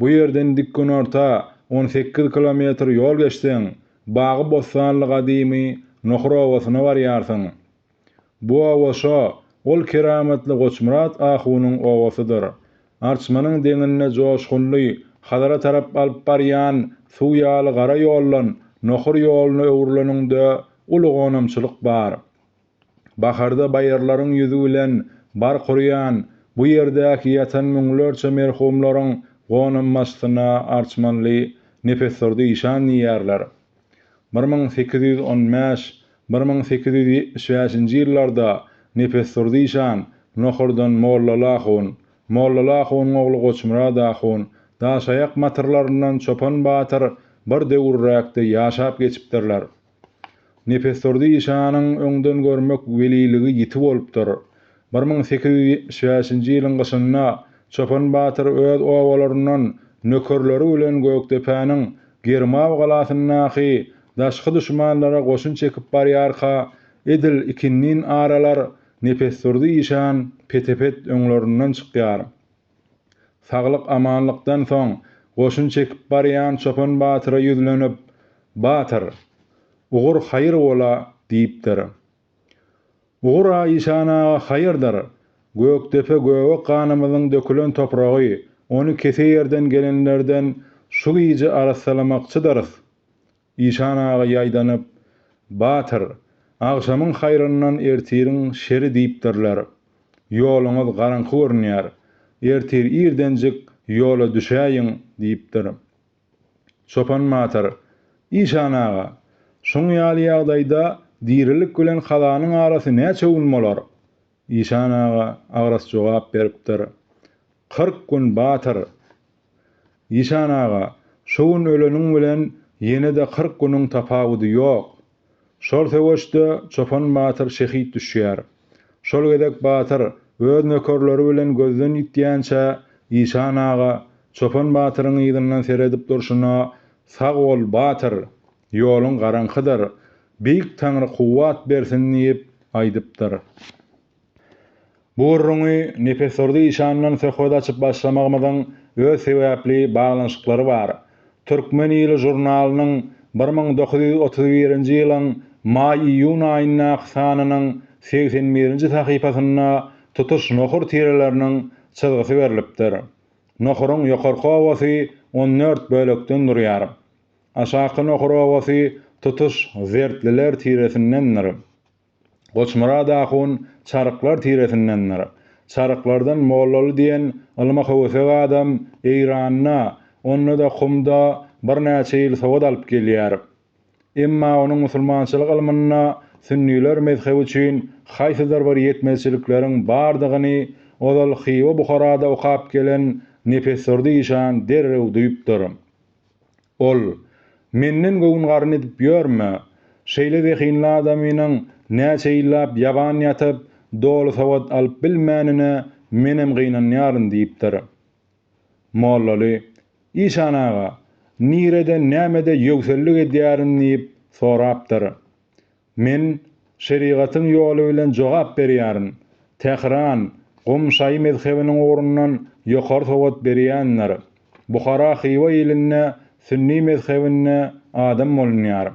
Bu ýerden dikgünorta on sekiz kilometr ýol geçseň, bagy-bossanly gadymy Nohur obasyna barýarsyň. Bu oba şo, ol keramatly Goçmyrat ahunyň obasydyr. Arçmanyň deňinde joşgunly Hazara tarap alyp barýan suw ýaly gara ýoldan Nohur ýoluna öwrüleniňde uly gonamçylyk bar. Baharda baýyrlaryň ýüzi bilen bark urýan bu ýerdäki ýatan müňlerçe merhumlaryň gonammaçsyna arçmanly Nepesdurdy işan diýýärler. Bir müň sekiz ýüz on bäş, bir müň sekiz ýüz ýetmiş bäşinji ýyllarda Nepesdurdy işan Nohurdan Mollal ahun, Mollal ahunyň ogly Goçmyrat ahun, Daşaýak batyrlaryndan Çopan batyr bir döwürräkde ýaşap geçipdirler. Nepesdurdy işanyň öňdengörmek weliligi ýiti bolupdyr. Bir müň sekiz ýüz ýetmiş bäşinji ýylyň gyşynda Çopan batyr öz obalaryndan nökerleri bilen Gökdepäniň Germaw galasyndaky daşky duşmanlara goşun çekip barýarka, edil ikindin aralar Nepesdurdy işan pete-pet öňlerinden çykýar. Saglyk-amanlykdan soň goşun çekip barýan Çopan batyra ýüzlenip, Batyr, ugur haýyr bol-a! diýipdir. Ugur-a işan aga haýyrdyr, Gökdepe göge ganymyzyň dökülen topragy, ony kese ýerden gelenlerden şu gije arassalamakçydyrys. Işan aga ýaýdanyp, Batyr, agşamyň haýryndan ertiriň şeri diýipdirler. Ýoluňyz garaňky görünýär. Ertir irdenjik ýola düşäýiň, diýipdir. Çopan batyr, Işan aga, şuň ýaly ýagdaýda dirilik bilen kazanyň arasy näçe gün bolar? Işan aga agras jogap beripdir, Kyrk gün, batyr! Işan aga, şu gün öleniň bilen ýene-de kyrk günüň tapawudy ýok. Şol söweşde Çopan batyr şehit düşýär. Şol gezek batyr öz nökerleri bilen gözden ýitýänçä Işan aga Çopan batyryň yzyndan seredip durşuna Sag bol, batyr! Ýoluň garaňkydyr. Beýik Taňry kuwwat bersin diýip aýdypdyr. Bu gürrüňi Nepesdurdy işandan söhbet açyp başlamagymyzyň öz sebäpli baglanyşyklary bar. Türkmen ýyly žurnalynyň bir müň dokuz ýüz otuz birinji ýylyň maý-iýun aýyndaky sanynyň segsen birinji sahypasynda tutuş nohur tireleriniň çyzgysy berlipdir. Nohuryň ýokarky owasy on dört bölekden durýar. Aşaky nohur owasy tutuş zertliler tiresindendir. Goçmyrat ahun Çaryklar tiresindendir. Çaryklardan Mollaly diýen ylma höwesek adam Eýranda, onda-da Kumda birnäçe ýyl sowat alyp gelýär. Emma onuň musulmançylyk ylmynda sünniler mezhebi üçin haýsydyr bir ýetmezçilikleriň bardygyny ozal Hywa-Buharada okap gelen Nepesdurdy işan derrew duýupdyr. Ol, Menden göwün-garyn edip ýörme. Şeýle zehinli adamynyň näçe ýyllap ýaban ýatyp, doly sowat alyp bilmänine menem gynanýaryn diýipdir. Mollaly, Işan aga, nirede, nämede ýöwsellik edýärin diýip sorapdyr. Men şerigatyň ýoly bilen jogap berýärin. Tähran, Gum şaýy mezhebiniň ugrundan ýokary sowat berýändir. Buhara Hywa ilinde sünni mezhebinde adam bolunýar.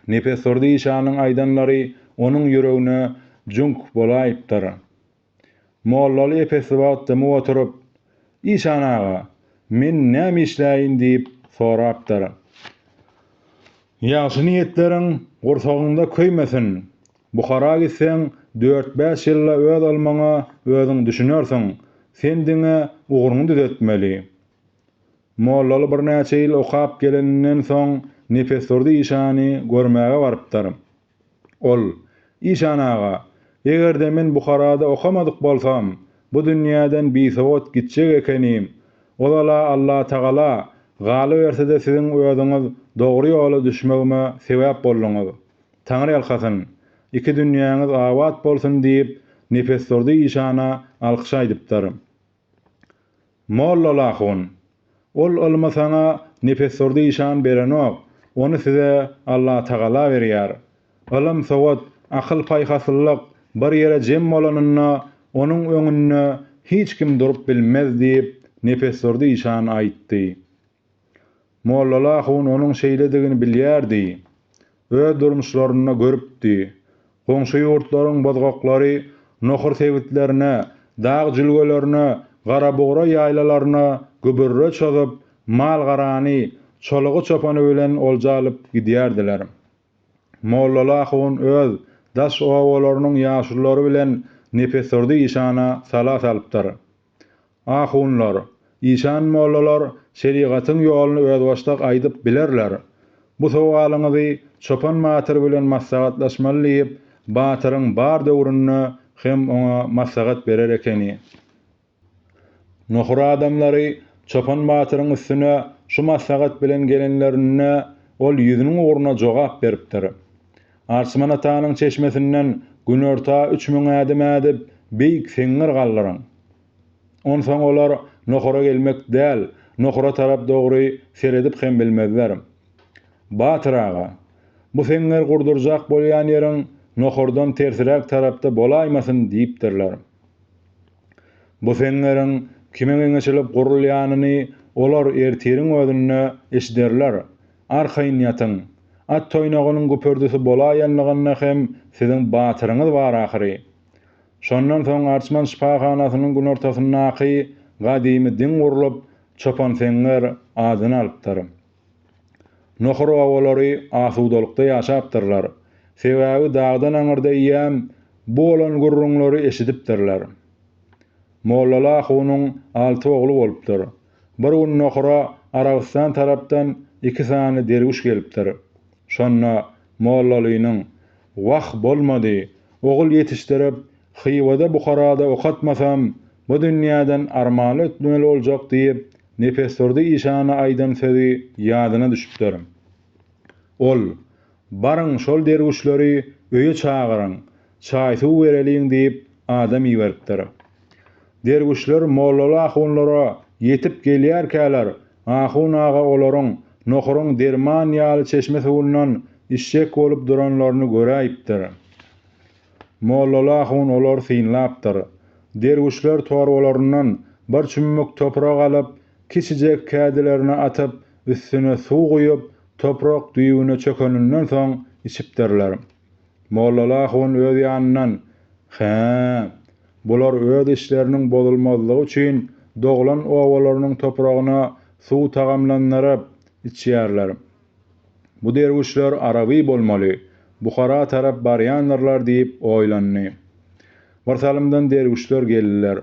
Nepesdurdy işanyň aýdanlary onuň ýüregine jüňk bolaýypdyr. Mollaly epesli wagt dymyp oturyp, Işan aga, men näme işläýin diýip sorapdyr. Ýagşy niýetleriň gursagyňda köýmesin. Buhara gitseň, dört-bäş ýylda öz ylmyňa özüň düşünersiň. Sen diňe ugruňy düzetmeli. Mollaly birnäçe ýyl okap geleninden soň Nepesdurdy işany görmäge barypdyr. Ol, Işan aga, eger-de men Buharada okamadyk bolsam, bu dünýäden bisowat gitjek ekenim. Ozal-a Allatagala, galyberse-de siziň özüňiz dogry ýola düşmegime sebäp bolduňyz. Taňryýalkasyn, iki dünýäňiz abat bolsun diýip, Nepesdurdy işana alkyş aýdypdyr. Mollolahun, Ol ylmy saňa Nefessurdy işan berenok, ony size Allatagala berýär. Ylym, sowat, akyl-paýhaslylyk bir ýere jem bolanynda, onuň öňünde hiç kim durup bilmez diýip, Nefessurdy işan aýtdy. Mollala hun onuň şeýledigini bilýärdi. Öz durmuşlarynda görüpdi. Goňşy ýurtlaryň bozgaklary nohur sebitlerine, dag jülgelerine, garabugry ýaýlalaryna gübürre çozup, mal-garany, çolugy-çopany bilen olja alyp gidýärdiler. Mollala hun öz daş obalarynyň ýaşululary bilen nepesdurdy işana sala salypdyr. Ahunlar, işan mollalar şerigatyň ýoluny özbaşdak aýdyp bilerler. Bu sowalyňyzy Çopan batyr bilen maslahatlaşmaly diýip, batyryň bar döwründe hem oňa maslahat berer ekeni. Nohur adamlary Çopan batyryň üstüne şu maslahat bilen gelenlerinde, ol ýüzüniň ugruna jogap beripdir. Arçman atanyň çeşmesinden günorta üç müň ädim ädip, beýik seňňir galdyryň. Onsoň olar nohura gelmek däl, nohura tarap dogry seredip hem bilmezler. Batyr aga, bu seňňer gurdurjak bolýan ýeriň nohurdan tersiräk tarapda bolaýmasyn diýipdirler. Bu seňňeriň kime geňeşilip gurulýanyny olar ertiriň özünde eşiderler. Arkaýyn ýatyň. At toýnagynyň güpürdisi bolaýanlygynda hem siziň batyryňyz bar ahyry. Şondan soň Arçman şypahanasynyň günortasyndaky gadymy diň gurlup, Çopanseňňer adyny alypdyr. Nohur obalary asudalykda ýaşapdyrlar. Sebäbi dagdan aňyrda eýýäm bu bolan gürrüňleri eşidipdirler. Mollala ahunyň alty ogly bolupdyr. Bir gün Nohura Arabystan tarapdan iki sany derwüş gelipdir. Şonda Mollalynyň, Wah, bolmady, ogul ýetişdirip, Hywada, Buharada okatmasam, bu dünýäden armanly ötmeli boljak diýip, Nepesdurdy işana aýdan sözi ýadyna düşüpdir. Ol, Baryň, şol derwüşleri öýe çagyryň, Çaý-suw bereliň diýip, adam iberipdir. Derwüşler mollaly ahunlara ýetip gelýärkäler, ahun aga olaryň nohuryň derman ýaly çeşme suwundan içjek bolup duranlaryny göräýipdir. Mollaly ahun olary synlapdyr. Derwüşler torbalaryndan bir çümmük toprak alyp, kiçijek kädilerine atyp, üstüne suw guýup, toprak düýbüne çökeninden soň içipdirler. Mollaly ahun öz ýanyndan, Hä, bular öz işleriniň bozulmazlygy üçin doglan obalarynyň topragyna suw tagamlandyryp, içýärler. Bu derwüşler araby bolmaly, Buhara tarap barýandyrlar diýip oýlandy. Birsalymdan derwüşler geldiler.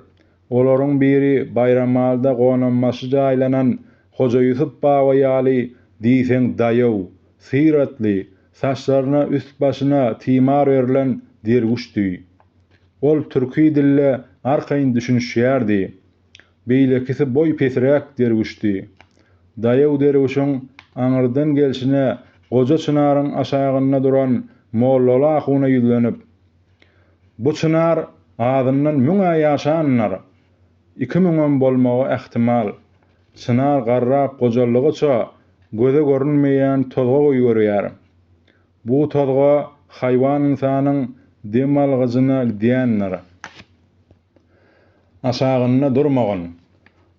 Olaryň biri Baýramalda gonambaşy jaýlanan Hoja Ýusup baba ýaly diýseň daýaw, syratly, Saçlaryna, üst-başyna timar örülen derwüşdi. Ol türki dille arkaýyn düşünişýärdi. Beýlekisi boýy pesiräk derwüşdi. Daýaw derwüşiň aňyrdan gelşine goja çynaryň aşagynda duran mollaly ahuna ýüzlenip, Bu çynar azyndan müň-ä ýaşandyr. Iki müňem bolmagy ähtimal. Çynar garrap gojaldygyça göze görünmeýän tozga goýberýär. Bu tozga haýwan ynsanyň dem algyjyna gidýändir. Aşagynda durmagyn.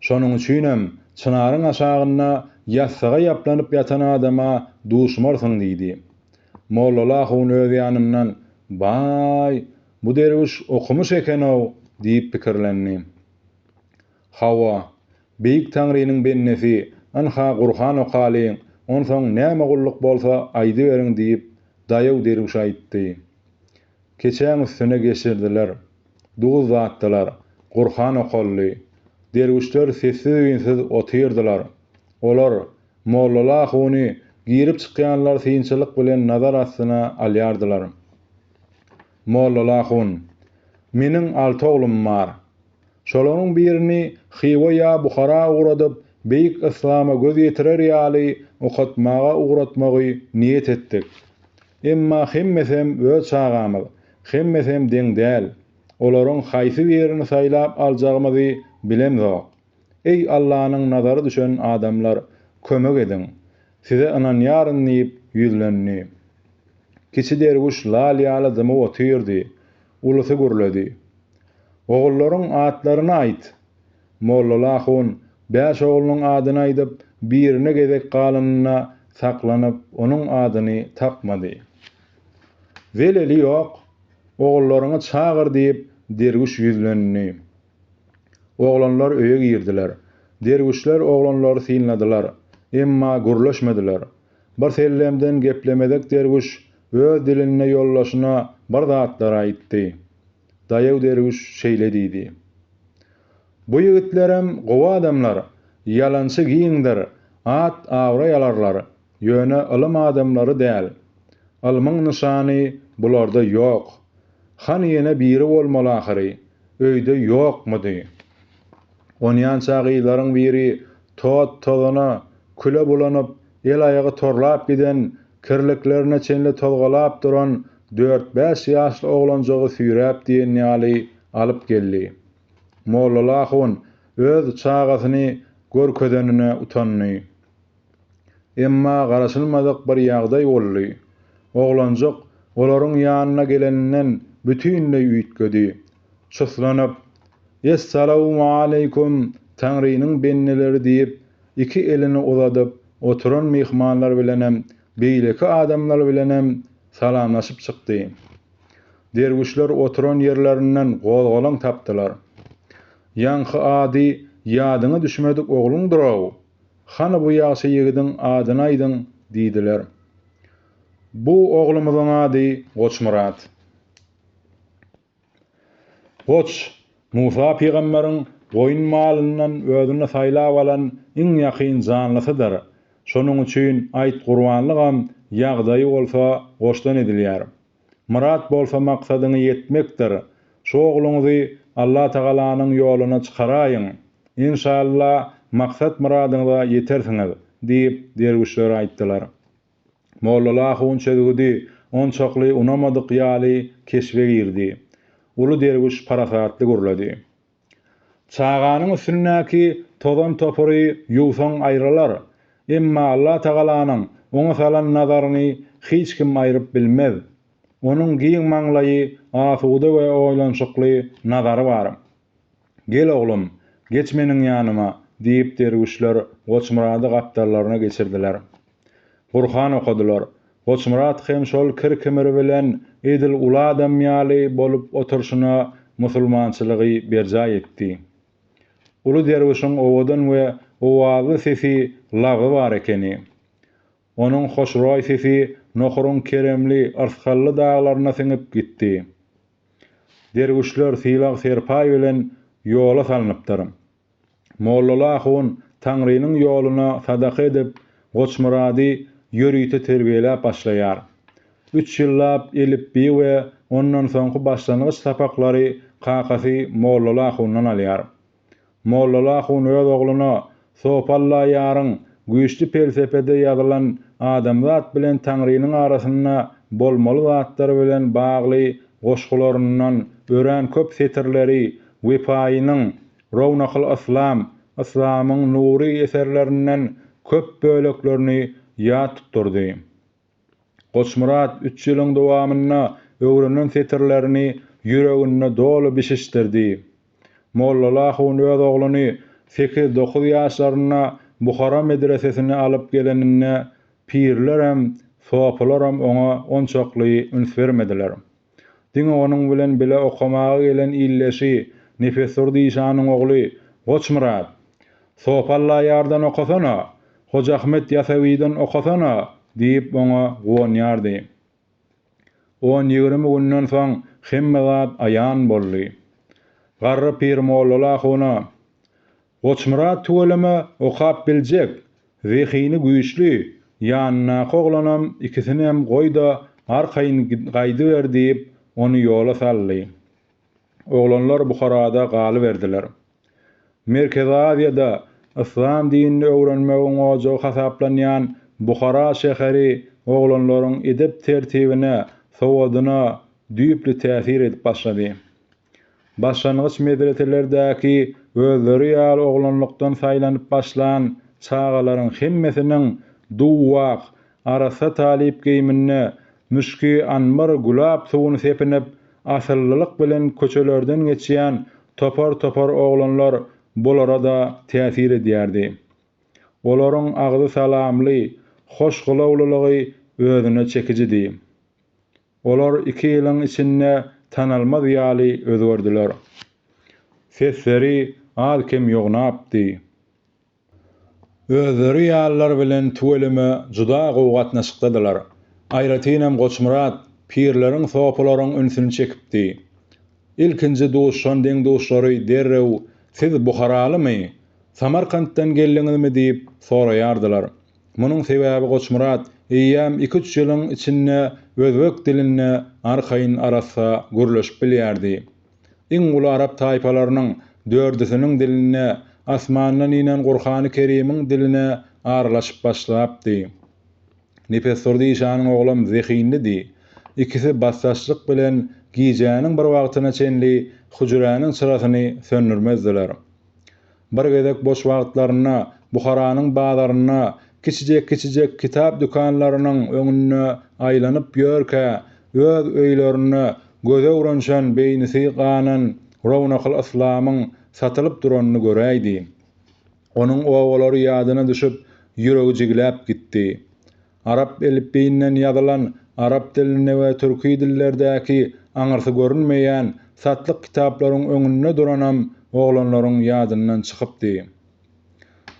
Şonuň üçinem çynaryň aşagynda ýassyga ýaplanyp ýatan adama duşmarsyň diýdi. Mollala ahun öz ýanyndan, Baý! Bu derwüş okumyş eken-ow diýip pikirlendi. Hawa, Beýik Taňrynyň bendesi, ynha Gurhan okaly, onsoň näme gulluk bolsa aýdyberiň diýip, daýaw derwüş aýtdy. Keçäň üstüne geçirdiler. Duz datdylar. Gurhan okaldy. Derwüşler sessiz-üýnsiz otyrdylar. Olar, mollaly ahuny girip-çykýanlar synçylyk bilen nazar astyna alýardylar. Mollolahun. Meniň alty oglum bar. Şolaryň birini Hywa ýa Buhara ugradyp, beýik yslama göz ýetirer ýaly okatmaga ugratmagy niýet etdik. Emma hemmesem öz çagamyz, hemmesem deň däl. Olaryň haýsy birini saýlap aljagymyzy bilemzok. Eý, Allanyň nazary düşen adamlar, kömek ediň! Size ynanýaryn diýip ýüzlendi. Kiçi derwüş lal ýaly dymyp otyrdy. Ulusy gürledi. Ogullaryň atlaryny aýt! Mollolahun bäş oglunyň adyny aýdyp, birine gezek galanyna saklanyp, onuň adyny tapmady. Zeleli ýok, ogullaryňy çagyr diýip, derwüş ýüzlendi. Oglanlar öýe girdiler. Derwüşler oglanlary synladylar. Emma gürleşmediler. Birsellemden geplemezek derwüş öz dilinde ýoldaşyna bir zatlar aýtdy. Daýaw derwüş şeýle diýdi. Bu ýigitlerem gowy adamlar, ýalançy giňdir, at-abraý alarlar, ýöne ylym adamlary däl. Ylmyň nyşany bularda ýok. Han ýene biri bolmaly ahyry. Öýde ýokmudy? Onýança gyzlaryň biri tot-tozana, küle bulanyp, el-aýagy torlap giden, kirliklerine çenli tozgalap duran dört-bäş ýaşly oglanjygy süýräp diýen ýaly alyp geldi. Mollaly ahun öz çagasyny görkezenine utandy. Emma garaşylmadyk bir ýagdaý boldy. Oglanjyk olaryň ýanyna geleninden bütinleý üýtgedi. Çuslanyp, Essalawmaleýkum, Taňrynyň bendeleri diýip, iki elini uzadyp, oturan myhmanlar bilenem, beýleki adamlar bilenem salamlaşyp çykdy. Derwüşler oturan ýerlerinden gozgalaň tapdylar. Ýaňky ady ýadyňa düşmedik ogluňdyr-ow? Hany bu ýagşy ýigidiň adyny aýdyň, diýdiler. Bu oglumyzyň ady Goçmyrat. Goç, Musa pygamberiň goýun malyndan özüne saýlap alan iň ýakyn janlysydyr. Şonuň üçin aýt gurbanlygam, ýagdaýy bolsa goçdan edilýär. Myrat bolsa maksadyňa ýetmekdir. Şu ogluňyzy Allatagalanyň ýoluna çykaraýyň. Enşalla, maksat-myradyňyza ýetersiňiz, diýip, derwüşler aýtdylar. Mollala ahun çözgüdi onçakly unamadyk ýaly keşbe girdi. Uly derwüş parasatly gürledi. Çaganyň üstündäki tozan-topary ýuwsaň aýrylar, emma Allatagalanyň oňa salan nazaryny hiç kim aýryp bilmez. Onuň giň maňlaýy, asuda we oýlanyşykly nazary bar. Gel, oglum, geç meniň ýanyma, diýip, derwüşler Goçmyrady gapdallaryna geçirdiler. Gurhan okadylar. Goçmyrat hem şol kir-kimiri bilen edil uly adam ýaly bolup oturşyna musulmançylygy berjaý etdi. Uly derwüşiň owadan we owazly sesi lagy bar ekeni. Onuň hoşroý sesi Nohuryň keremli, yrsgally daglaryna siňip gitdi. Derwüşler sylag-serpaý bilen ýola salnypdyr. Mollaly ahun Taňrynyň ýoluna sadaka edip, Goçmyrady ýörite terbiýeläp başlaýar. Üç ýyllap elipbiý we ondan soňky başlangyç sapaklary kakasy Mollaly ahundan alýar. Mollaly ahun öz ogluna Sopalla ýaryň güýçli pelsepede ýazylan adamzat bilen Taňrynyň arasynda bolmaly zatlar bilen bagly goşgularyndan örän köp setirleri Wepaýynyň Rownakyl Yslam, Yslamyň nury eserlerinden köp böleklerini ýat tutdurdy. Goçmyrat üç ýylyň dowamynda öwrenen setirlerini ýüreginde doly bişişdirdi. Mollala hun öz ogluny sekiz-dokuz ýaşlarynda Buhara medresesine alyp geleninde pirlerem, sopylaram oňa onçakly üns bermediler. Diňe onuň bilen bile okamaga gelen ildeşi, Nepesdurdy işanyň ogly Goçmyrat, Sof Allaýardan okasana, Hojaahmet Ýasawydan okasana diýip oňa guwanýardy. On-ýigrimi günden soň hemme zat aýan boldy. Garry pir Mollaly ahuna. Goçmyrat tüweleme okap biljek, zehini güýçli, ýanyndaky oglanam ikisinem goý-da arkaýyn gaýdyber diýip, ony ýola saldy. Oglanlar Buharada galyberdiler. Merkezi Aziýada yslam dinini öwrenmegiň ojagy hasaplanýan Buhara şäheri oglanlaryň edep-tertibine, sowadyna düýpli täsir edip başlady. Başlangyç medreselerdäki özleri ýaly oglanlykdan saýlanyp başlan çagalaryň hemmesiniň duw-wak, arassa talyp geýiminde, müşki anbar gülap suwuny sepinip, asyllylyk bilen köçelerden geçýän topar-topar oglanlar bulara-da täsir edýärdi. Olaryň agzy salamly, hoş gylawlylygy özüne çekijidi. Olar iki ýylyň içinde tanalmaz ýaly özgerdiler. Sesleri az-kem ýognapdy. Özleri ýalylar bilen tüweleme juda gowy gatnaşykdadylar. Aýratynam Goçmyrat pirleriň sopalaryň ünsüni çekipdi. Ilkinji duşan deň-duşlary derrew Siz buharalymy? Samarkantdan geldiňizmi? diýip soraýardylar. Munuň sebäbi Goçmyrat eýýäm iki-üç ýylyň içinde özbek dilinde arkaýyn arassa gürleşip bilýärdi. Iň uly arap taýpalarynyň dördüsiniň diline, asmandan inen Gurhany Kerimiň diline aralaşyp başlapdy. Nepesdurdy işanyň oglam zehinlidi. Ikisi basdaşlyk bilen gijäniň bir wagtyna çenli hüjräniň çyrasyny söndürmezdiler. Bir gezek boş wagtlarynda Buharanyň bazarynda kiçijek-kiçijek kitap dükanlarynyň öňünde aýlanyp ýörkä, öz öýlerinde göze uranşan beýnisi ganan Rownakyl Yslamyň satylyp duranyny göräýdi. Onuň obalary ýadyna düşüp, ýüregi jigläp gitdi. Arap elipbiýinden ýazylan arap dilinde we türki dillerdäki aňyrsy görünmeýän satlyk kitaplaryň öňünde duranam oglanlaryň ýadyndan çykypdy.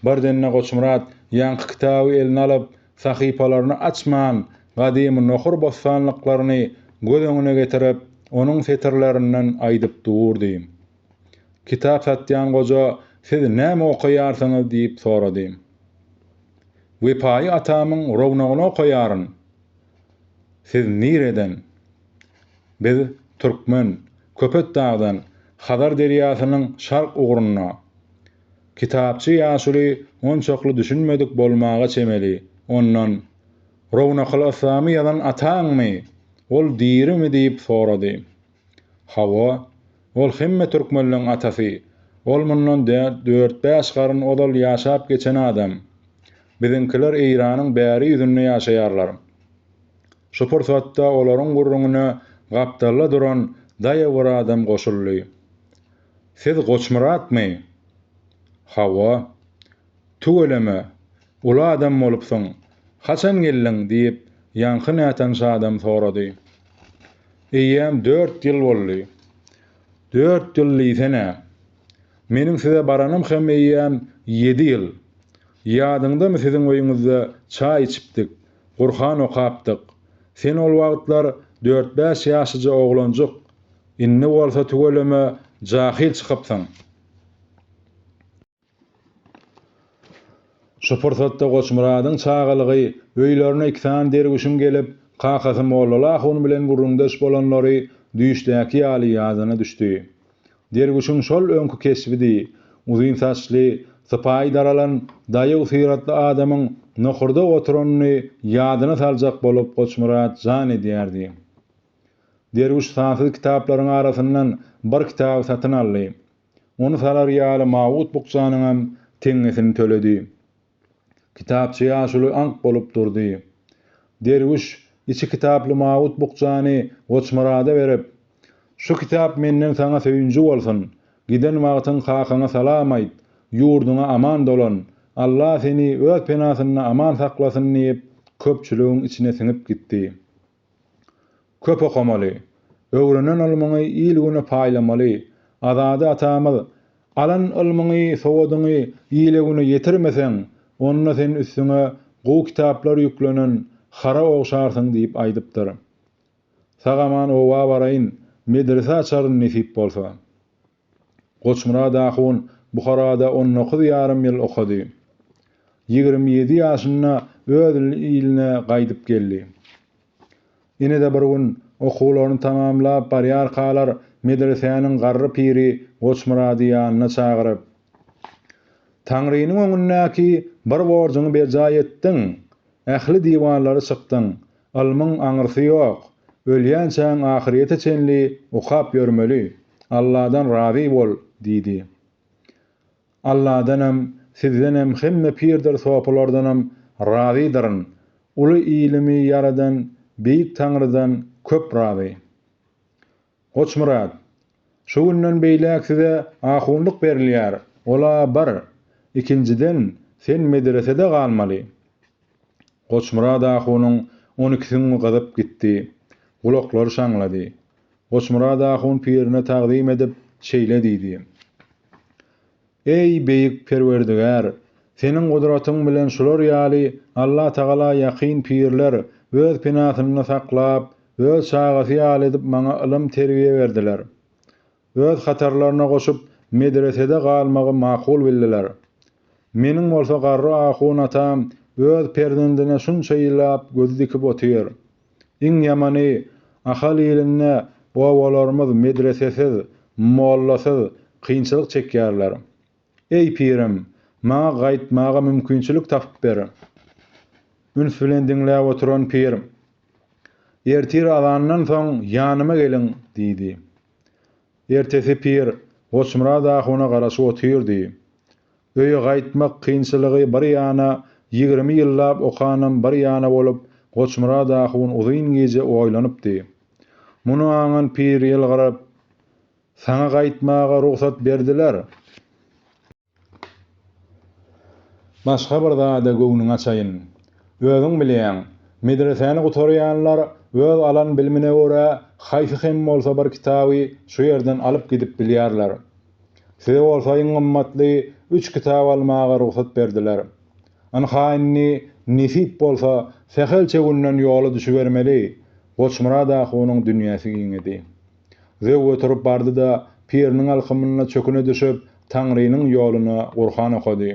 Birden-de Goçmyrat ýaňky kitaby eline alyp, sahypalaryny açman, gadymy nohur bossanlyklaryny göz öňüne getirip, onuň setirlerinden aýdyp durdy. Kitap satýan goja siz näme okaýarsyňyz diýip sorady. Wepaýy atamyň rownagyny okaýaryn. Siz nireden? Biz türkmen, Köpetdagdan, Hazar derýasynyň şark ugrunda. Kitapçy ýaşuly onçakly düşünmedik bolmaga çemeli, ondan, Rownakylysamy ýazan ataňmy? Ol dirimi diýip sorady. Hawa, ol hemme türkmenleň atasy, ol mundan dört-bäş garyn ozal ýaşap geçen adam. Biziňkiler Eýranyň bäri ýüzünde ýaşaýarlar. Şu pursatda olaryň gürrüňine gapdalda duran daýaw bir adam goşuldy. Siz Goçmyratmy? Hawa. Tüweleme, uly adam bolupsyň. Haçan geldiň? diýip, ýaňky nätanyş adam sorady. Eýýäm dört ýyl boldy. Dört ýyl diýsene. Meniň size baranym hem eýýäm ýedi ýyl. Ýadyňdamy siziň öýüňizde çaý içipdik, Gurhan okapdyk. Sen ol wagtlar dört-bäş ýaşyja oglanjyk, indi bolsa tüweleme jahyl çykypsyň. Şu pursatda Goçmyradyň çagalygy öýlerine iki sany derwüşiň gelip, kakasy Mollaly ahun bilen gürrüňdeş bolanlary düýşdäki ýaly ýadyna düşdi. Derwüşiň şol öňki keşbidi, uzyn saçly, sypaýy daralan, daýaw syratly adamyň nohurda oturanyny ýadyna saljak bolup Goçmyrat jan edýärdi. Derwüş sansyz kitaplaryň arasyndan bir kitaby satyn aldy. Ony salar ýaly mawut bukjanyňam teňňesini töledi. Kitapçy ýaşuly aňk bolup durdy. Derwüş içi kitaply mawut bukjany Goçmyrada berip, Şu kitap menden saňa söýünji bolsun. Giden wagtyň kakaňa salam aýt, ýurduňa aman dolan, Alla seni öz penasynda aman saklasyn diýip, köpçüligiň içine siňip gitdi. Köp okamaly. Öwrenen ylmyňy il-güne paýlamaly. Azady atamyz, Alan ylmyňy, sowadyňy ile-güne ýetirmeseň, onda sen üstüňe gowy kitaplar ýüklenen hara ogşarsyň diýip aýdypdyr. Sag-aman oba baraýyn, medrese açaryn nesip bolsa. Goçmyrat ahun Buharada on dokuz ýarym ýyl okady. Ýigrimi ýedi ýaşynda öz iline gaýdyp geldi. Ine-de bir gün okuwlaryny tamamlap barýarkalar medresäniň garry piri Goçmyrady ýanyna çagyryp, Taňrynyň öňündäki bir borjuňy berjaý etdiň, ähli diwarlary çykdyň, Ylmyň aňyrsy ýok. Ölýänçäň ahyrýete çenli okap ýörmeli. Alladan razy bol! diýdi. Alladanam, sizdenem hemme pirdir sopulardanam razydyryn. Uly ylmy ýaradan Beýik Taňrydan köp razy. Goçmyrat, Şu günden beýläk size ahunlyk berilýär, ol-a bir. Ikinjiden, sen medresede galmaly. Goçmyrat ahunyň on iki süňňi gyzyp gitdi. Gulaklary şaňlady. Goçmyrat ahun pirine tagzym edip, şeýle diýdi. Eý, Beýik Perwerdigär! Seniň gudratyň bilen şular ýaly Allatagala ýakyn pirler öz penasynda saklap, öz çagasy ýaly edip maňa ylym-terbiýe berdiler. Öz hatarlaryna goşup, medresede galmagy makul bildiler. Meniň bolsa garry ahun atam öz perzendine şunça ýyllap göz dikip otyr. Iň ýamany, Ahal ilinde obalarymyz medresesiz, mollasyz kynçylyk çekýärler. Eý, pirim, maňa gaýtmaga mümkinçilik tapyp ber! Üns bilen diňläp oturan pir, Ertir azandan soň ýanyma geliň! diýdi. Ertesi Pir Goçmyrat ahuna garaşyp otyrdy. Öýe gaýtmak kynçylygy bir ýana, ýigrimi ýyllap okanam bir ýana bolup, Goçmyrat ahun uzyn gije oýlanypdy. Muny aňan Pir ýylgyryp, Saňa gaýtmaga rugsat berdiler. Başga bir zada göwnüňi açaýyn. Özüň bilýäň, medresäni gutarýanlar öz alan bilimine görä haýsy hem bolsa bir kitaby şu ýerden alyp gidip bilýärler. Size bolsa iň gymmatly üç kitap almaga rugsat berdiler. Ynha indi nesip bolsa sähelçe günden ýola düşübermeli. Goçmyrat ahunyň dünýäsi giňedi. Zöw göterip bardy-da, piriniň alkymyna çöküne düşüp, Taňrynyň ýoluna Gurhan okady.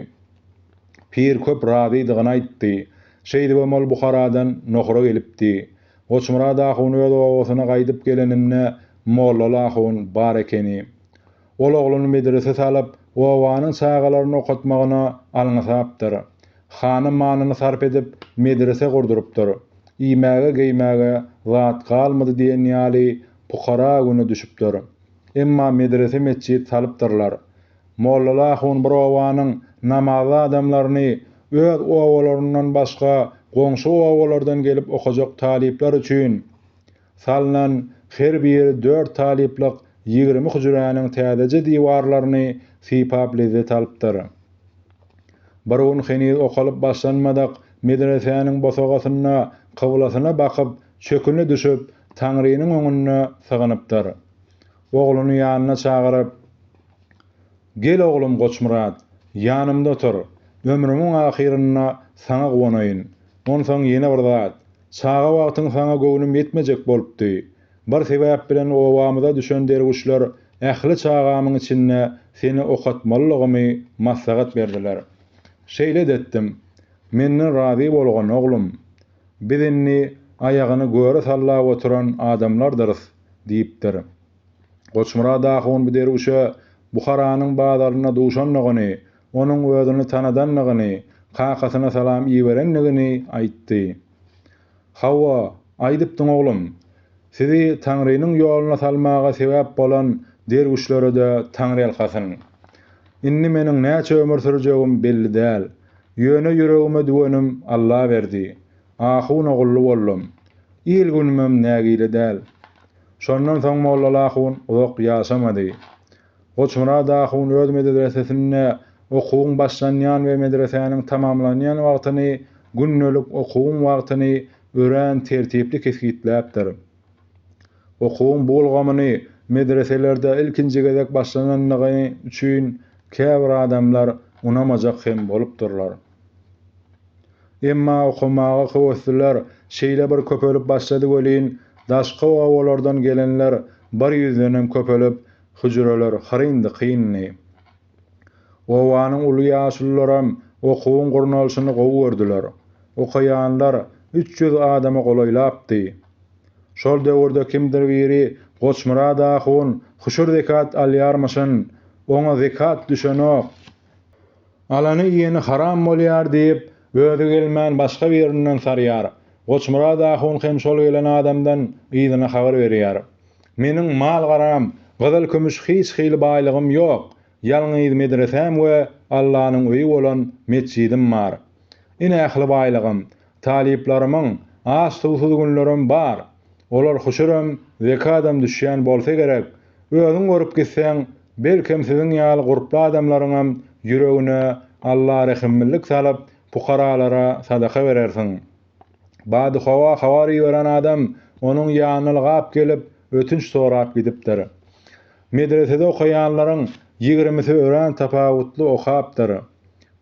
Pir köp razydygyny aýtdy. Şeýdibem ol Buharadan Nohura gelipdi. Goçmyrat ahun öz obasyna gaýdyp geleninde Mollaly ahun bar ekeni. Ol ogluny medrese salyp, obanyň çagalaryny okatmagyna alňasapdyr. Hany manyny sarp edip, medrese gurdurypdyr. Iýmäge-geýmäge zat galmady diýen ýaly pukara güne düşüpdir. Emma medrese-metjit salypdyrlar. Mollaly ahun bir obanyň namazly adamlaryny öz obalaryndan başga goňşy obalardan gelip okajak talyplar üçin Salnan her biri dört talyplyk ýigrimi hüjräniň täzeje diwarlaryny sypap lezzet alypdyr. Bir gün heniz okalyp başlanmadyk medresäniň bosagasynda kyblasyna bakyp çöküne düşüp, Taňrynyň öňünde sygynypdyr. Ogluny ýanyna çagyryp, Gel oglum Goçmyrat, ýanymda otur, ömrümiň ahyrynda saňa guwanaýyn. Onsoň ýene bir zat, Çaga wagtyň saňa göwnüm ýetmejek bolupdy. Bir sebäp bilen obamyza düşen derwüşler ähli çagamyň içinde seni okatmalylygymy maslahat berdiler. Şeýle-de etdim. Menden razy bolgun, oglum. Biz indi aýagyny göre sallap oturan adamlardyrys, diýipdir. Goçmyrat ahun bu derwüşe Buharanyň bazarynda duşandygyny, onuň özüni tanadandygyny, kakasyna salam iberendigini aýtdy. Hawa, aýdypdyň oglum. Sizi Taňrynyň ýoluna salmaga sebäp bolan derwüşlere-de taňryýalkasyn. Indi meniň näçe ömür sürjegim belli däl. Ýöne ýüregime düwenim Allaberdi. Ahun ogully boldum. Il-günümem nägile däl. Şondan soň Mollal ahun uzak ýaşamady. Goçmyrat ahun öz medresesinde okuwyň başlanýan we medresäniň tamamlanýan wagtyny, gündelik okuwyň wagtyny örän tertipli kesgitläpdir. Okuwyň bu ulgamyny medreselerde ilkinji gezek başlanandygy üçin käbir adamlar unamajak hem bolupdyrlar. Emma okamaga höwesliler şeýle bir köpelip başlady welin, daşky obalardan gelenler bir ýüzdenem köpelip, hüjreler hyryndy-kyndy. Obanyň uly ýaşulularam okuwyň gurnalyşyny gowy gördüler. Okaýanlar üç ýüz adama golaýlapdy. Şol döwürde kimdir biri Goçmyrat ahun huşur-zekat alýarmyşyn, oňa zekat düşenok. Alany iýeni haram bolýar diýip, özi gelmän başga birinden sarýar. Goçmyrat ahun hem şol gelen adamdan yzyna habar berýär. Meniň mal-garam, gyzyl-kümüş hiç hili baýlygym ýok, ýalňyz medresäm we Allanyň öýi bolan metjidim bar. Ine ähli baýlygym. Talyplarymyň aç-suwsuz günlerem bar. Olar huşurem, zekadam düşýän bolsa gerek. Özüň görüp gitseň, belkem siziň ýaly gurply adamlaryňam ýüregine Alla rehimlilik salyp, pukaralara sadaka berersiň. Badyhowa habar iberen adam onuň ýanyna ylgap gelip, ötünç sorap gidipdir. Medresede okaýanlaryň ýigrimisi örän tapawutly okapdyr.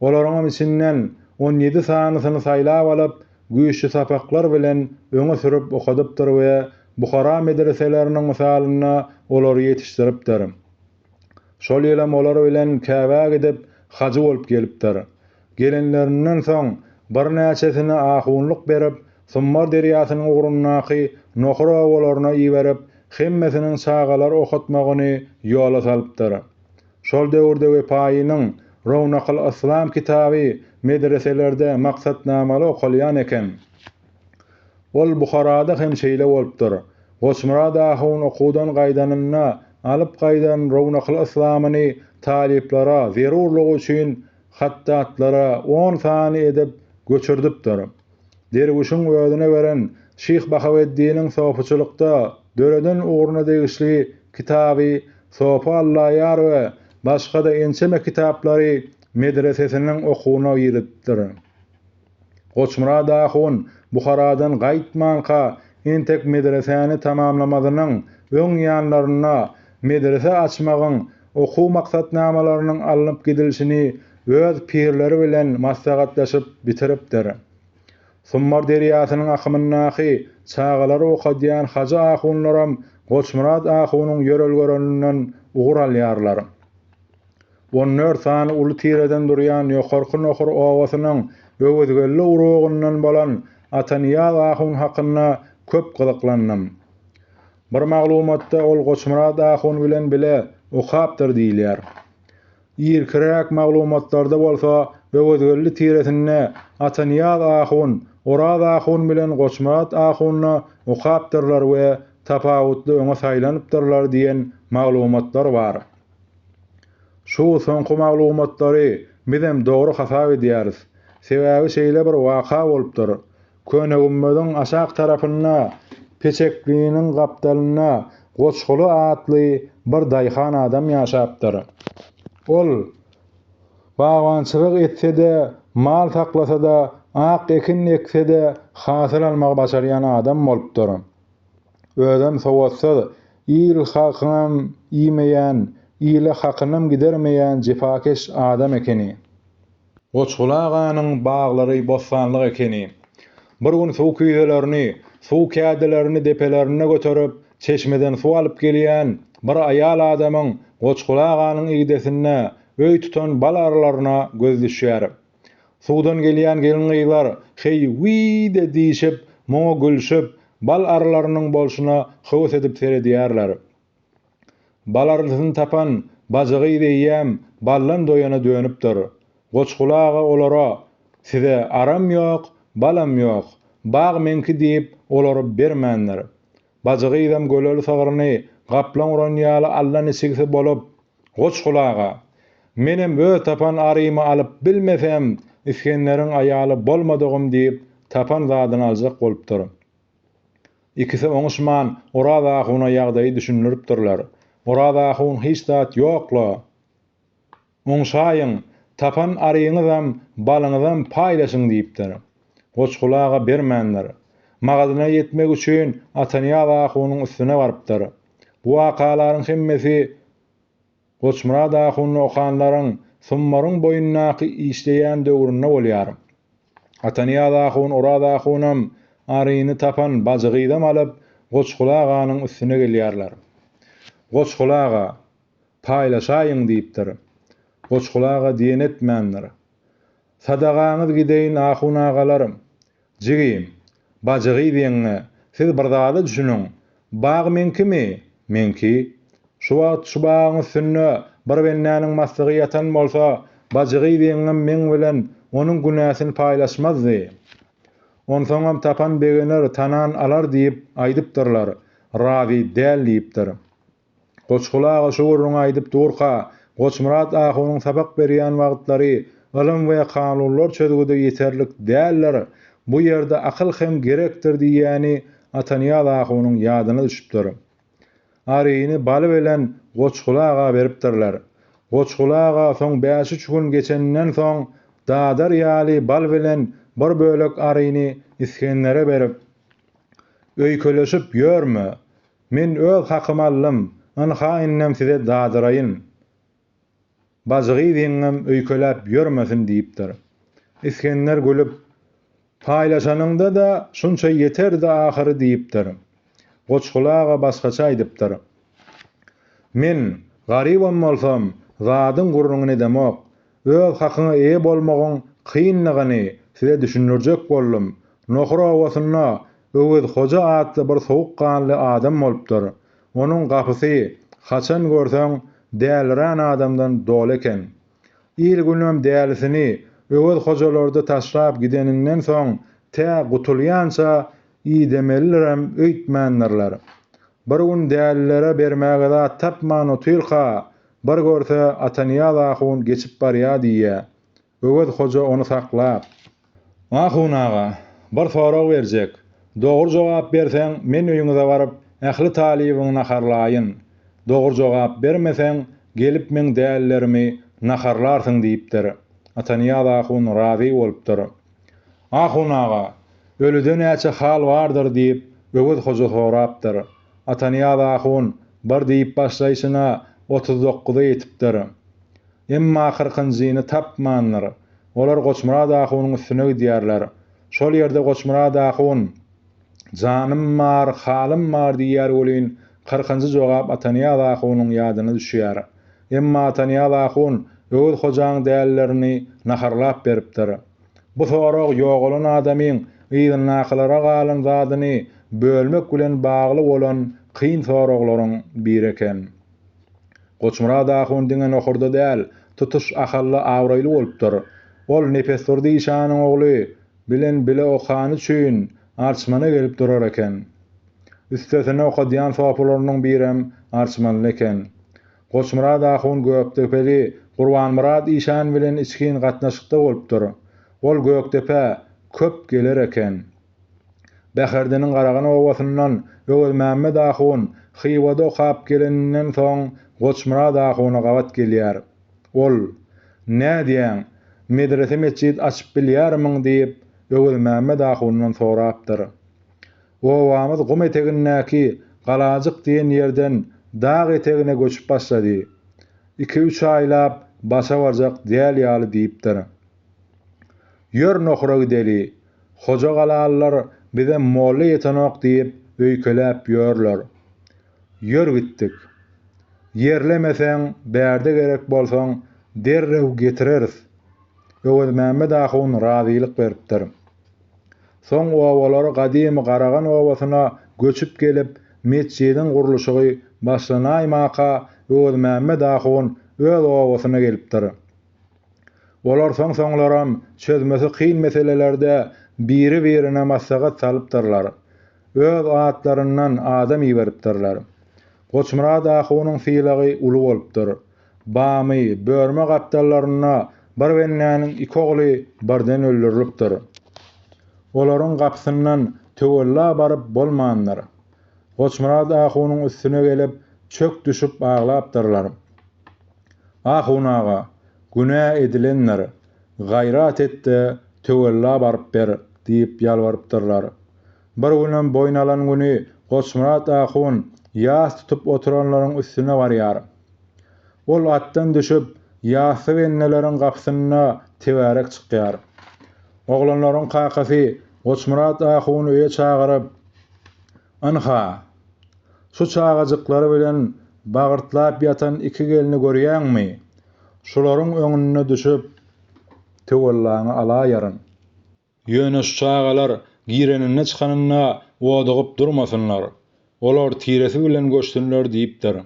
Olaryňam içinden on ýedi sanysyny saýlap alyp, güýçli sapaklar bilen öňe sürüp okadypdyr we Buhara medreseleriniň mysalynda olary ýetişdiripdir. Şol ýylam olar bilen Käbä gidip, hajy bolup gelipdir. Gelenlerinden soň, birnäçesini ahunlyk berip, Summar derýasynyň ugrundaky nohur obalaryna iberip, hemmesiniň çagalar okatmagyny ýola salypdyr. Şol döwürde Wepaýynyň Rownakyl Yslam kitaby medreselerde maksatnamaly okalýan eken. Ol Buharada hem şeýle bolupdyr. Goçmyrat ahun okuwdan gaýdanynda alyp gaýdan Rownakyl Yslamyny talyplara zerurlygy üçin hatdatlara on sany edip göçürdipdir. derwüşiň özüne beren Şyh Bahaweddiniň sofyçylykda döreden ugruna degişli kitaby Sofy Allaýar we başga-da ençeme kitaplary medresesiniň okuwyna giripdir. Goçmyrat ahun Buharadan gaýtmanka entek medresäni tamamlamazynyň öň ýanlarynda medrese açmagyň okuw maksatnamalarynyň alnyp gidilişini öz pirleri bilen maslahatlaşyp bitiripdir. Summar derýasynyň akymyndaky çagalary okadýan hajy ahunlaram Goçmyrat ahunyň ýörelgelerinden ugur alýarlar. On dört sany uly tireden durýan Ýokarky Nohur obasynyň Öwezgeldi urugyndan bolan Atanyýaz ahun hakynda köp gyzyklandym. Bir maglumatda ol Goçmyrat ahun bilen bile okapdyr diýilýär. Irkiräk maglumatlarda bolsa Öwezgeldi tiresinde Atanyýaz ahun Oraz ahun bilen Goçmyrat ahunda okapdyrlar we tapawutly öňe saýlanypdyrlar diýen maglumatlar bar. Şu soňky maglumatlary bizem dogry hasap edýäris. Sebäbi şeýle bir waka bolupdyr. Köne gümmeziň aşak tarapynda peçekliniň gapdalynda Goçguly atly bir daýhan adam ýaşapdyr. Ol bagbançylyk etse-de, mal saklasa-da, ak ekin ekse-de hasyl almagy başarýan adam bolupdyr. Özem sowatsyz, il-halkyňam iýmeýän, ile hakynam gidermeýän jepakeş adam ekeni. Goçguly aganyň baglary bossanlyk ekeni. Bir gün suw küýzelerini, suw kädilerini depelerine göterip, çeşmeden suw alyp gelýän bir aýal adamyň Goçguly aganyň igdesinde öý tutan bal arylaryna göz düşýär. Suwdan gelýän gelin-gyzlar heý-wiý-de diýşip, muňa gülşüp, bal arylarynyň bolşuna höwes edip seredýärler. Balarlysyny tapan bajy gyz eýýäm baldan doýana dönüpdir. Goçguly aga olara, Size aram ýok, balam ýok, bag meňki diýip, olary bermändir. Bajy gyzam göleli sygryny gaplaň uran ýaly allaniçigsi bolup, Goçguly aga! Menem öz tapan arymy alyp bilmesem, Isgenderiň aýaly bolmadygym diýip, tapan zadyny aljak bolupdyr. Ikisi oňuşman, Oraz ahuna ýagdaýy düşündiripdirler. Oraz ahun hiç zat ýok-la! Oňşaýyň, tapan aryňyzam, balyňyzam paýlaşyň diýipdir. Goçguly aga bermändir. Magazyna ýetmek üçin Atanyýaz ahunyň üstüne barypdyr. Bu wakalaryň hemmesi Goçmyrat ahuny okanlaryň Summaryň boýundaky işleýän döwründe bolýar. Atanyýaz ahun Oraz ahunam, aryny tapan bajygyzam alyp Goçguly aganyň üstüne gelýärler. Goçguly aga, Paýlaşaýyň diýipdir. Goçguly aga diýen etmändir. Sadagaňyz gideýin ahun agalar! Jigi, bajygyz ýeňňe, siz bir zada düşüniň, bag meňkimi? Meňki. Şu wagt şu bagyň üstünde bir bendäniň maslygy ýatan bolsa, bajygyz ýeňňem meň bilen onuň günäsini paýlaşmazdy. Onsoňam tapan begener, tanan alar diýip aýdypdyrlar, razy däl diýipdir. Goçguly aga şu gürrüňi aýdyp durka, Goçmyrat ahunyň sapak berýän wagtlary ylym we kanunlar çözgüdi ýeterlik däldir, bu ýerde akyl hem gerekdir diýýäni Atanyýaz ahunyň ýadyna düşüpdir. Aryny Baly bilen Goçguly aga beripdirler. Goçguly aga soň bäş-üç gün geçeninden soň dadar ýaly bal bilen bir bölek aryny Isgendere berip, Öýkeleşip ýörme, Men öz hakymy aldym, ynha indem size dadyraýyn. Bajygyz ýeňňem öýkeläp ýörmesin diýipdir. Isgender gülüp, Paýlaşanyňda-da şunça ýeterdi ahyry diýipdir. Goçguly aga başgaça aýdypdyr. Men, garybam bolsam, zadyň gürrüňini edemok. Öz hakyňa eýe bolmagyň kynlygyny size düşündirjek boldum. Nohur obasynda Öwez hoja atly bir sowuk ganly adam bolupdyr. Onuň gapysy haçan görseň dälirän adamdan doly eken. Il-günem dälisini Öwez hojalarda taşlap gideninden soň tä gutulýança idemelidirem öýtmändirler. Bir gün dälilere bermäge zat tapman otyrka Bir görse, Atanyýaz ahun geçip barýa diýýä. Öwez hoja ony saklap. Ahun aga, bir sorag berjek. Dogry jogap berseň, men öýüňize baryp, ähli talybyňy naharlaýyn. Dogry jogap bermeseň, gelip meň dälilerimi naharlarsyň diýipdir. Atanyýaz ahun razy bolupdyr. Ahun aga, ölüde näçe hal bardyr diýip, Öwez hoja sorapdyr. Atanyýaz ahun bir diýip başlaýşyna otuz dokuza ýetipdir. Emma kyrkynjyny tapmandyr. Olar Goçmyrat ahunyň üstüne gidýärler. Şol ýerde Goçmyrat ahun, Janym bar, halym bar diýýär welin, kyrkynjy jogap Atanyýaz ahunyň ýadyna düşýär. Emma Atanyýaz ahun Öwez hojaň dälilerini naharlap beripdir. Bu sorag ýogalan adamyň yzyndakylara galan zadyny bölmek bilen bagly bolan kyn soraglaryň biri eken. Goçmyrat ahun diňe nohurda däl, tutuş Ahalda abraýly bolupdyr. Ol Nepesdurdy işanyň ogly bilen bile okany üçin Arçmana gelip durar eken. Üstesine okadýan sopylarynyň birem arçmanly eken. Goçmyrat ahun Gökdepeli Gurbanmyrat işan bilen içgin gatnaşykda bolupdyr. Ol Gökdepä köp geler eken. Bäherdiniň Garagan obasyndan Öwezmämmet ahun Hywada okap geleninden soň Goçmyrat ahuna gabat gelýär. Ol, Nädýäň, medrese-metjit açyp bilýärmiň diýip, Öwezmämmet ahundan sorapdyr. Obamyz gum etegindäki Galajyk diýen ýerden dag etegine göçüp başlady. Iki-üç aýlap başa barjak däl ýaly diýipdir. Ýör nohura gideli. Hojagalalylar bize molla ýetenok diýip öýkeläp ýörler. Ýör gitdik. Ýerlemeseň, bärde gerek bolsaň, derrew getireris. Öwezmämmet ahun razylyk beripdir. Soň obalar gadymy Garagan obasyna göçüp gelip, metjidiň gurluşygy başlanaýmaka Öwezmämmet ahun öz obasyna gelipdir. Olar soň-soňlaram çözmesi kyn meselelerde biri-birine maslahat salypdyrlar. Öz atlaryndan adam iberipdirler. Goçmyrat ahunyň sylagy uly bolupdyr. Bamy, Börme gapdallarynda bir bendäniň iki ogly birden öldürilipdir. Olaryň gapysyndan töwella baryp bolmandyr. Goçmyrat ahunyň üstüne gelip, çök düşüp aglapdyrlar. Ahun aga, günä edilendir. Gaýrat et-de, töwella baryp ber, diýip ýalbarypdyrlar. Bir günem boýun alan güni Goçmyrat ahun ýas tutup oturanlaryň üstüne barýar. Ol atdan düşüp, ýasy benneleriň gapysynda tebärek çykýar. Oglanlaryň kakasy Goçmyrat ahuny öýe çagyryp, Ynha, şu çagajyklary bilen bagyrtlap ýatan iki gelni görýäňmi? Şularyň öňüne düşüp, töwellaňy alaýaryn. Ýöne şu çagalar gireninde-çykanynda odugyp durmasynlar, olar tiresi bilen göçsünler diýipdir.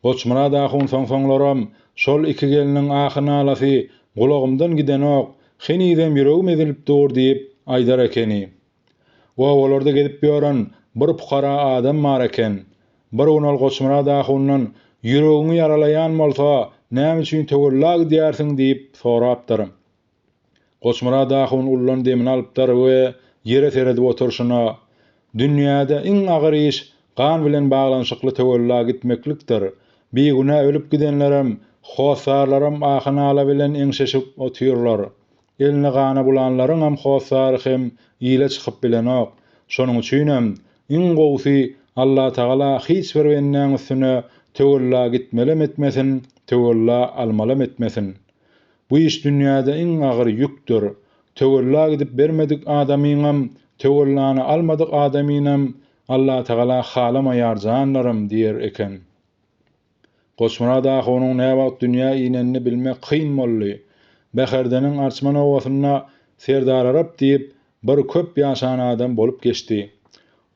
Goçmyrat ahun soň-soňlaram şol iki gelniň ahy-nalasy gulagymdan gidenok, henizem ýüregim ezilip dur diýip aýdar ekeni. Obalarda gezip ýören bir pukara adam bar eken. Bir gün ol Goçmyrat ahundan Ýüregiňi ýaralaýan bolsa, näme üçin töwella gidýärsiň diýip sorapdyr. Goçmyrat ahun ullan demini alypdyr we ýere seredip oturşyna, Dünýäde iň agyr iş gan bilen baglanyşykly töwella gitmeklikdir. Bigünä ölüp gidenlerem, hossarlaram ahy-nala bilen eňşeşip otyrlar. Elini gana bulanlaryňam hossary hem ile çykyp bilenok. Şonuň üçinem, iň gowusy, Allatagala hiç bir bendäň üstüne töwella gitmelem etmesin, töwella almalam etmesin. Bu iş dünýäde iň agyr ýükdür. Töwella gidip bermedik adamyňam, töwellany almadyk adamynam Allatagala halamaýar janlarym diýer eken. Goçmyrat ahunyň näwagt dünýä inenini bilmek kyn boldy. Bäherdeniň arçman obasynda Serdararyp diýip bir köp ýaşan adam bolup geçdi.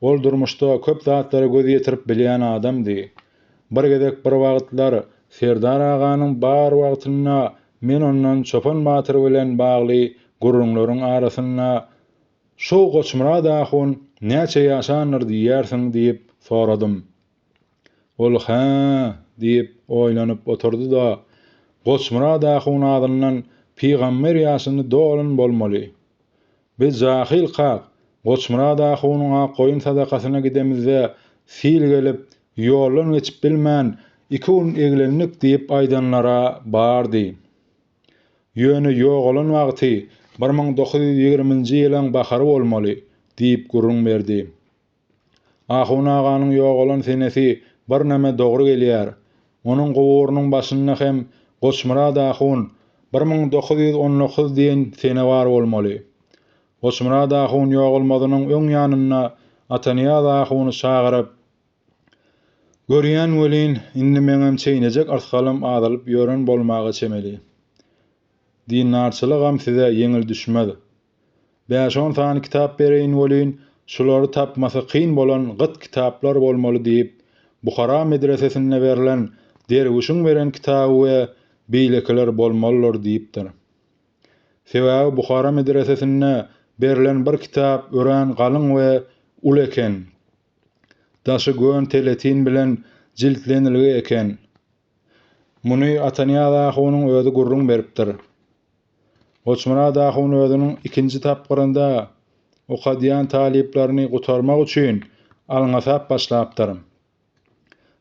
Ol durmuşda köp zatlara göz ýetirip bilýän adamdy. Bir gezek bir wagtlar Serdar aganyň bar wagtynda men ondan Çopan batyr bilen bagly gürrüňleriň arasynda Şu Goçmyrat ahun näçe ýaşandyr diýýärsiň diýip soradym. Ol Hä? diýip oýlanyp oturdy-da, Goçmyrat ahun azyndan pygamber ýaşyny dolan bolmaly. Biz jahyl kak, Goçmyrat ahunyň ak goýun sadakasyna gidemizde, sil gelip, ýoldan geçip bilmän, iki gün eglendik diýip aýdanlar-a bardy. Ýöne ýogalan wagty bir müň dokuz ýüz ýigriminji ýylyň bahary bolmaly, diýip gürrüň berdi. Ahun aganyň ýogalan senesi birneme dogry gelýär. Onuň guburynyň başynda hem Goçmyrat ahun bir müň dokuz ýüz on dokuz diýen sene bar bolmaly. Goçmyrat ahun ýogalmazynyň öň ýanynda Atanyýaz ahuny çagyryp, Görýän welin, indi meňem çeýnejek ysgalym azalyp ýören bolmaga çemeli. Dindarçylygam size ýeňil düşmez. Bäş-on sany kitap bereýin welin, şulary tapmasy kyn bolan gyt kitaplar bolmaly diýip, Buhara medresesinde berlen derwüşiň beren kitaby we beýlekiler bolmalydyr diýipdir. Sebäbi Buhara medresesinde berlen bir kitap örän galyň we uly eken. Daşy gön teletin bilen jiltlenilgi eken. Muny Atanyýaz ahunyň özi gürrüň beripdir. Goçmyrat ahun özüniň ikinji tapgyrynda okadýan talyplaryny gutarmak üçin alňasap başlapdyr.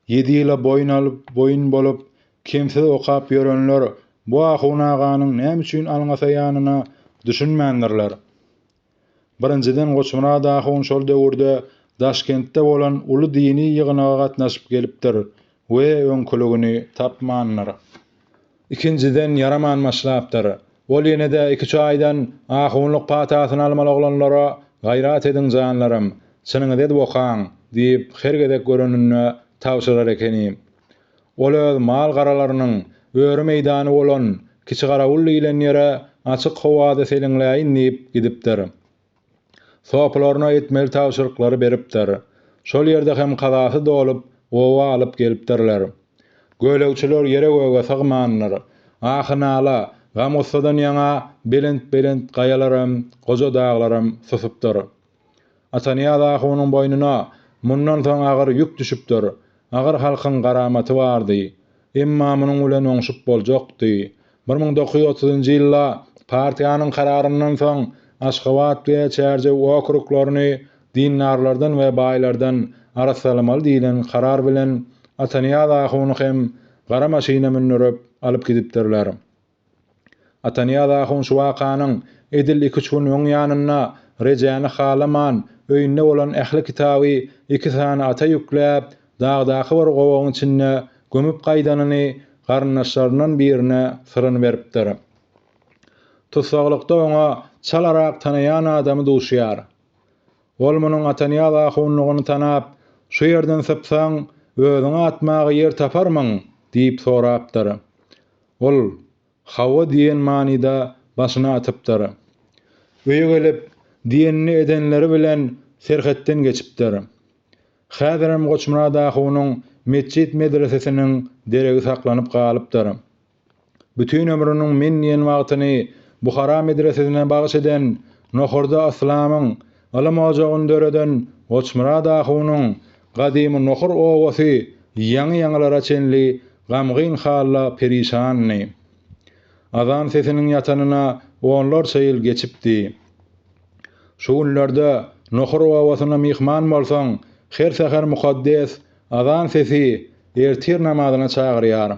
Ýedi ýyla boýun alyp, boýun bolup, kemsiz okap ýörenler bu ahun aganyň näme üçin alňasaýanyna düşünmändirler. Birinjiden Goçmyrat ahun şol döwürde Daşkentde bolan uly dini ýygnaga gatnaşyp gelipdir we öňküligini tapmandyr. Ikinjiden ýaraman başlapdyr. Ol ýene-de iki-üç aýdan ahunlyk patasyny almaly oglanlara Gaýrat ediň janlarym, çynyňyzy edip okaň diýip her gezek göreninde tabşyrar ekeni. Ol öz mal-garalarynyň öri meýdany bolan Kiçigarawul diýlen ýere açyk howada seliňläýin diýip gidipdir. Sopylaryna etmeli tabşyryklary beripdir. Şol ýerde hem kazasy dolup, oba alyp gelipdirler. Gölegçiler ýere-göge sygmandyr. Ahy-nala, gam-gussadan ýaňa belent-belent gaýalaram, goja daglaram susupdyr. Atanyýaz ahunyň boýnuna mundan soň agyr ýük düşüpdir. Agyr halkyň garamaty bardy. Emma munuň bilen oňşup boljakdy. Bir müň dokuz ýüz otuzynjy ýylda partiýanyň kararyndan soň Aşgabat we Çärjew okruglaryny dindarlardan we baýlardan arassalamaly diýlen karar bilen Atanyýaz ahuny hem gara maşyna mündürip alyp gidipdirler. Atanyýaz ahun şu wakanyň edil iki-üç gün öň ýanynda Rejäni halaman, öýünde bolan ähli kitaby iki sany ata ýükläp, dagdaky bir gowagyň içinde gömüp gaýdanyny garyndaşlaryndan birine syryny beripdir. Tussaglykda oňa çalarak tanaýan adamy duşýar. Ol munuň Atanyýaz ahunlygyny tanap, Şu ýerden sypsaň, özüňi atmaga ýer taparmyň? diýip sorapdyr. Ol, Hawa diýen manyda başyny atypdyr. Öýe gelip, diýenini edenleri bilen serhetden geçipdir. Häzirem Goçmyrat ahunyň metjit-medresesiniň deregi saklanyp galypdyr. Bütin ömrüniň men diýen wagtyny Buhara medresesine bagyş eden Nohurda Yslamyň Ylym ojagyny döreden Goçmyrat ahunyň Gadymy Nohur obasy ýaňy-ýaňylara çenli gamgyn halda perişandy. Azan sesiniň ýatanyna onlarça ýyl geçipdi. Şu günlerde Nohur obasyna myhman bolsaň, her säher mukaddes azan sesi ertir namazyna çagyrýar.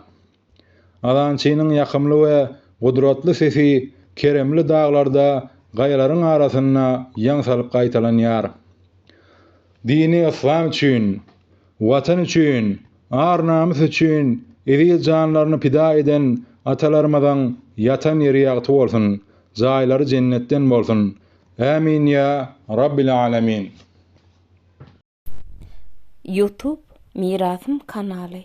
Azançynyň ýakymly we gudratly sesi keremli daglarda gaýalaryň arasynda ýaň salyp gaýtalanýar. Dini yslam üçin, Watan üçin, ar-namys üçin eziz janlaryny pida eden atalarymyzyň ýatan ýeri ýagty bolsun, jaýlary jennetden bolsun! Ämin ýa Rabbil Alamin! Youtube Mirasym kanaly.